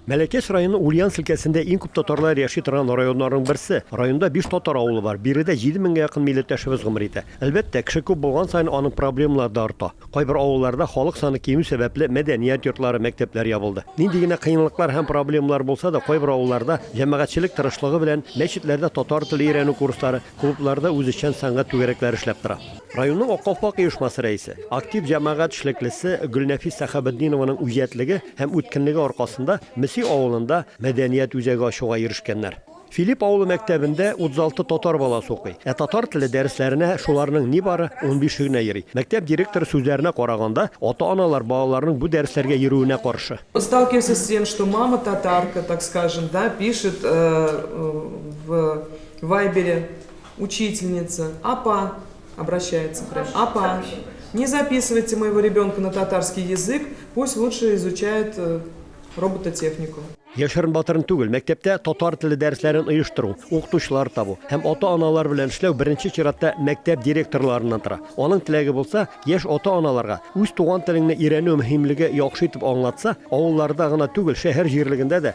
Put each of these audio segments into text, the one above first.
Мәләкәс районы Ульяновск өлкәсендә иң күп татарлар яши торган районнарның берсе. Районда биш татар авылы бар, биредә җиде меңгә якын милләттәшебез гомер итә. Әлбәттә, кеше күп булган саен аның проблемалары да арта. Кайбер авылларда халык саны кимү сәбәпле мәдәният йортлары, мәктәпләр ябылды. Нинди генә кыенлыклар һәм проблемалар булса да, кайбер авылларда, җәмәгатьчелек тырышлыгы белән, мәчетләрдә татар теле өйрәнү курслары, клубларда үзешчән сәнгать түгәрәкләре эшләп тора. Районның Ак калфак оешмасы рәисе, актив җәмәгать эшлеклесе Гөлнәфис Сәхәбетдинованың үҗәтлеге Һәм үткенлеге аркасында Меси авылында мәдәният үзәге ачуга ирешкәннәр. Филипп авылы мәктәбендә 36 татар баласы укый. Ә татар теле дәресләренә шуларның нибары унбише генә йөри. Мәктәп директоры сүзләренә караганда, ата-аналар балаларның бу дәресләргә йөрүенә каршы. Сталкиваемся с тем, что мама татарка, так скажем, да, пишет в вайбере, учительница, Апа, Обращается прям. Апа, не записывайте моего ребенка на татарский язык, пусть лучше изучает э, робототехнику. Яшерен-батырын түгел, мәктәптә татар теле дәресләрен оештыру, укытучылар табу һәм ата-аналар белән эшләү беренче чиратта мәктәп директорларыннан тора. Аның теләге булса, яшь ата-аналарга үз туган телеңне өйрәнү мөһимлеге яхшы итеп аңлатса, авылларда гына түгел, шәһәр җирлегендә дә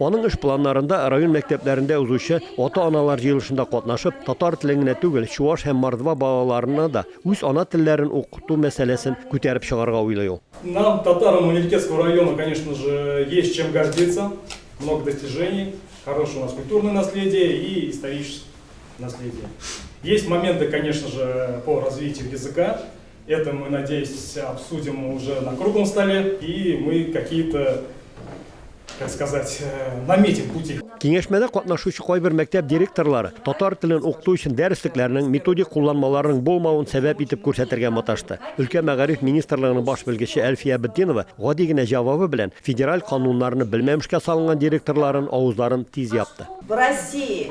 Аның эш планнарында район мәктәпләрендә узучы ата-аналар җыелышында катнашып, татар телен генә түгел, чуаш һәм мордва балаларына да үз ана телләрен укыту мәсьәләсен күтәреп чыгарга уйлый ул. Нам, татарам Манилькецкого района, конечно же, есть чем гордиться, много достижений, хорошее у нас культурное наследие и историческое наследие. Есть моменты, конечно же, по развитию языка. Это мы, надеюсь, обсудим уже на круглом столе, и мы какие-то, как сказать, э, наметим пути. Киңәшмәдә катнашучы кайбер мәктәп директорлары татар телен укыту өчен дәреслекләрнең методик кулланмаларының булмавын сәбәп итеп күрсәтергә маташты. Өлкә мәгариф министрлыгының баш белгече Әлфия Бетдинова гади генә җавабы белән федераль кануннарны белмәмешкә салынган директорларын авызларын тиз япты. В России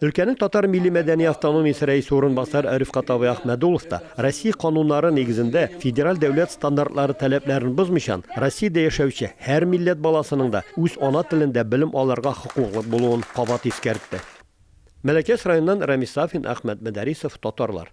Өлкәнең татар милли-мәдәни автономиясе рәисе урынбасары Рифкат абый Әхмәдуллов та, Россия кануннары нигезендә, федераль дәүләт стандартлары таләпләрен бозмыйчан, Россиядә яшәүче һәр милләт баласының да үз ана телендә белем алырга хокуклы булуын кабат искәртте. Мәләкәс районыннан Рәмис Сафин, Әхмәт Мөдәрисов, Татарлар.